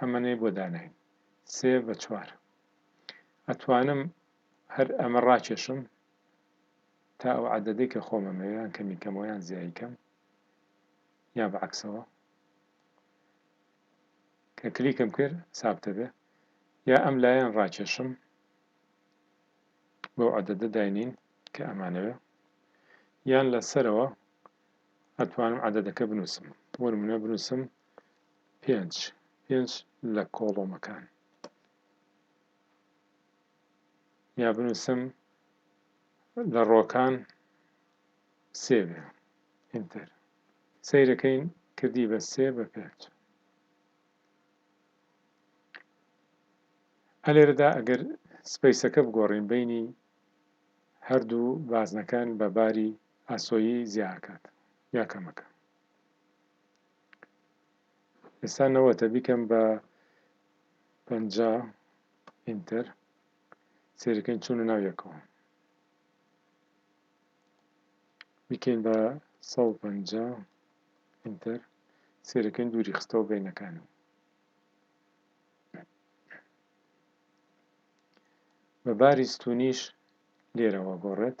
ئەمەنەی بۆ داناین سێ بە چوار ئەتوانم هەر ئەمە ڕاکێشم تا ئەو عددەی کە خۆمەمەوێ یان کەمی کەمەوە یان زیایی کەم یا بە عکسەوە کە کلیکم کرد سابتە بێ یا ئەم لایەن ڕاکێشم بەو عددە داینین کە ئەمانەوێ یان لەسەرەوە ئەتوانم عددەکە بنووسم بۆ منە بنووسم پێنج پێنج لە کۆڵۆمەکان. یا بنووسم لە ڕۆکان سێ بێ ئینتەر سەیرەکەین کردی بە سێ بە پێنج هەلێرەدا ئەگەر سپیسەکە بگۆڕین بینی هەردوو بازنەکان بە باری ئاسۆیی زیاکات یا کەمەکە ئێستا نەوەتە بیکەم بە پەنجا ئینتەر سێرەکەین چوونە ناو یەکەوە بیکەین بە سە و پەنجا ئینتەر سێرەکەین دووری خستەوە بینەکانم بە باری ستونیش لێرەوە گۆڕێت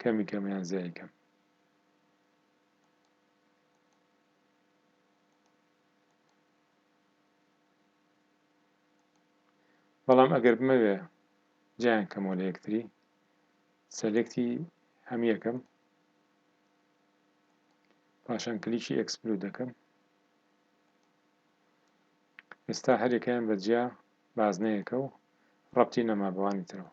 کەمی کەم یان زیای کەم. بەڵام ئەگەر بمەوێ جیان کەمەوە لە یەکتری سەلێکتی هەم یەکەم پاشان کلیکی ئەکسپلو دەکەم ئێستا هەرێکیان بە جیا بازنەیەکە و ڕەتی نەما بەوانی ترەوە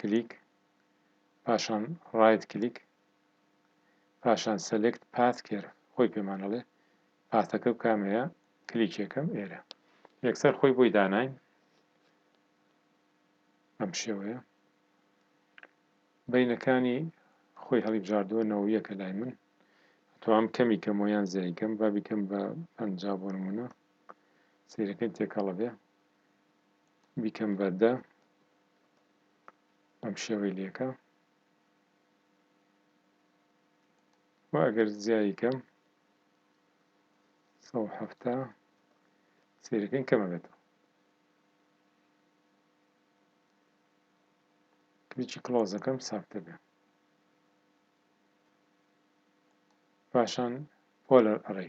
کلیک پاشان ڕایت کلیک پاشان سەلێکت پاس کێر خۆی پێمانەڵێ پاسەکە و کامەیە کلیکێکم ئێرە یەکسەر خۆی بۆی داناین ئەم شێوەیە بینەکانی خۆی هەڵیبژاردووە نەوەیەکە لای من توام کەمی کەمۆیان زیایکەم با بیکەم بە پەنج بۆ نمونە سەیرەکەین تێکەڵە بێ بیکەم بە دە بەم شێوەی لەکە و ئەگەر زیایی کەم سە هەفتا سەیرەکەین کەمە بێتەوە کلیکی کلۆزەکەم ساکتە بێ پاشان پۆلەر ئەڕێ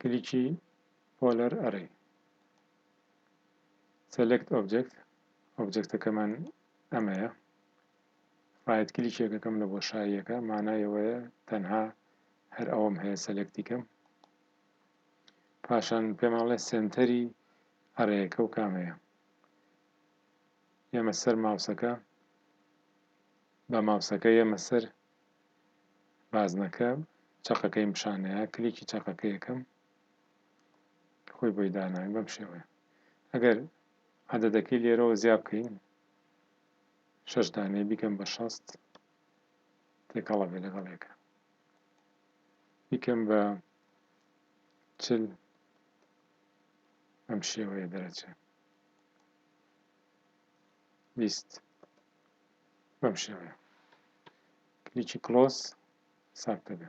کلیکی Polar Array Select Object ئۆبجێکتەکەمان ئەمەیە ڕایت کلیکێکەکەم لە بۆشاییەکە مانایەوەیە تەنها هەر ئەوم هەیە سەلەکتیکەم پاشان پێماڵێ سنتەری ئەڕێیەکە و کامەیە ئێمە سەر ماوسەکە بە ماوسەکە ئێمە سەر بازنەکە چەقەکەی مشانەیە کلیکی چەقەکەیەکەم خۆی بۆی داناوی بەم شێوەیە ئەگەر عددەکەی لێرەوە زیاب بکەین شش دانێ بیکەم بە شەست تێکەڵە بێ لەگەڵ یەکە بیکەم بە چل ئەم شێوەیە دەرەچێت لیست بەم شێوەیە کلیکی کلۆز ساردەبێ